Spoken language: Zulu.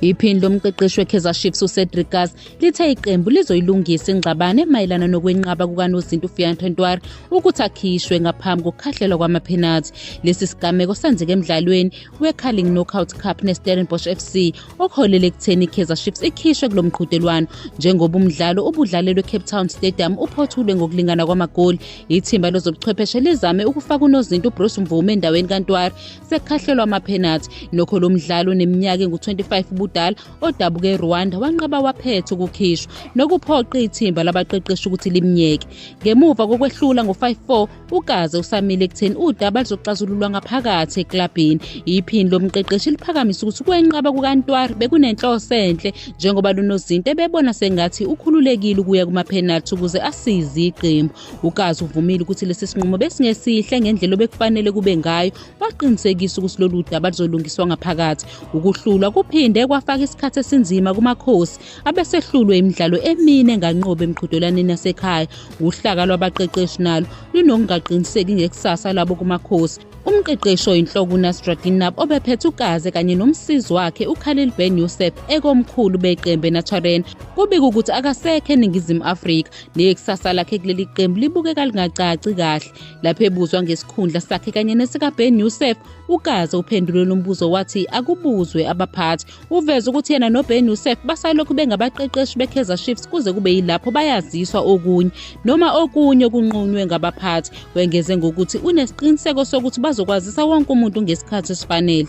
Iphini lomqeqeshi weKaizer Chiefs uCedric Kaas lithe iqembu lizoyilungisa ingxabane mayelana nokwenqaba kukanozinti uFiyan Tontoir ukuthi akhishwe ngaphambi kokukhahlelwa kwamaphenathi. Lesi sigameko senzeke emdlalweni weCarling Knockout Cup neStellenbosch FC okuholele ekutheni i-kaizer chiefs ikhishwe kulo mqhudelwano njengoba umdlalo ubudlalelwe ecape town stadium uphothulwe ngokulingana kwamagoli ithimba lezobuchwepheshe lizame ukufaka unozinto ubruce mvume endaweni kantwari sekukhahlelwa amaphenathi nokho lo mdlalo oneminyaka engu-25 ubudala odabuka erwanda wanqaba waphetha ukukhishwa nokuphoqa ithimba labaqeqeshi ukuthi limnyeke ngemuva kokwehlula ngo-5 4 ugaze usamile ekutheni udaba luzoxazululwa ngaphakathi eklabhini iphini lomqeqeshi liphakamisa ukuthi ukwenqaba kukantwari bekunenhloso enhle njengoba lunozinto ebebona sengathi ukhululekile ukuya kumaphenalthi ukuze asize iqembu ugazi uvumile ukuthi lesi sinqumo besingesihle ngendlela obekufanele kube ngayo waqinisekisa ukuthi lolu daba luzolungiswa ngaphakathi ukuhlulwa kuphinde kwafaka isikhathi esinzima kumakhosi abesehlulwe imidlalo emine enganqobi emqhudelwaneni yasekhaya wuhlaka lwabaqeqeshi nalo lunokungaqiniseki ngekusasa labo kumakhosi umqeqeshi oyinhloko unasra ginab obephethe ugaze kanye nomsizi wakhe ukhalil ben yusef ekomkhulu beqembu enatsharen kubika ukuthi akasekho eningizimu afrika nekusasa lakhe kuleli qembu libukeka lingacaci kahle lapho ebuzwa ngesikhundla sakhe kanye nesikabhen yusef ugaze uphendule lo mbuzo wathi akubuzwe abaphathi Uveze ukuthi yena noBen Youssef basalokhu bengabaqeqeshi beKaizer Chiefs kuze kube yilapho bayaziswa okunye noma okunye okunqunywe ngabaphathi. Wengeze ngokuthi unesiqiniseko sokuthi bazokwazisa wonke umuntu ngesikhathi esifanele.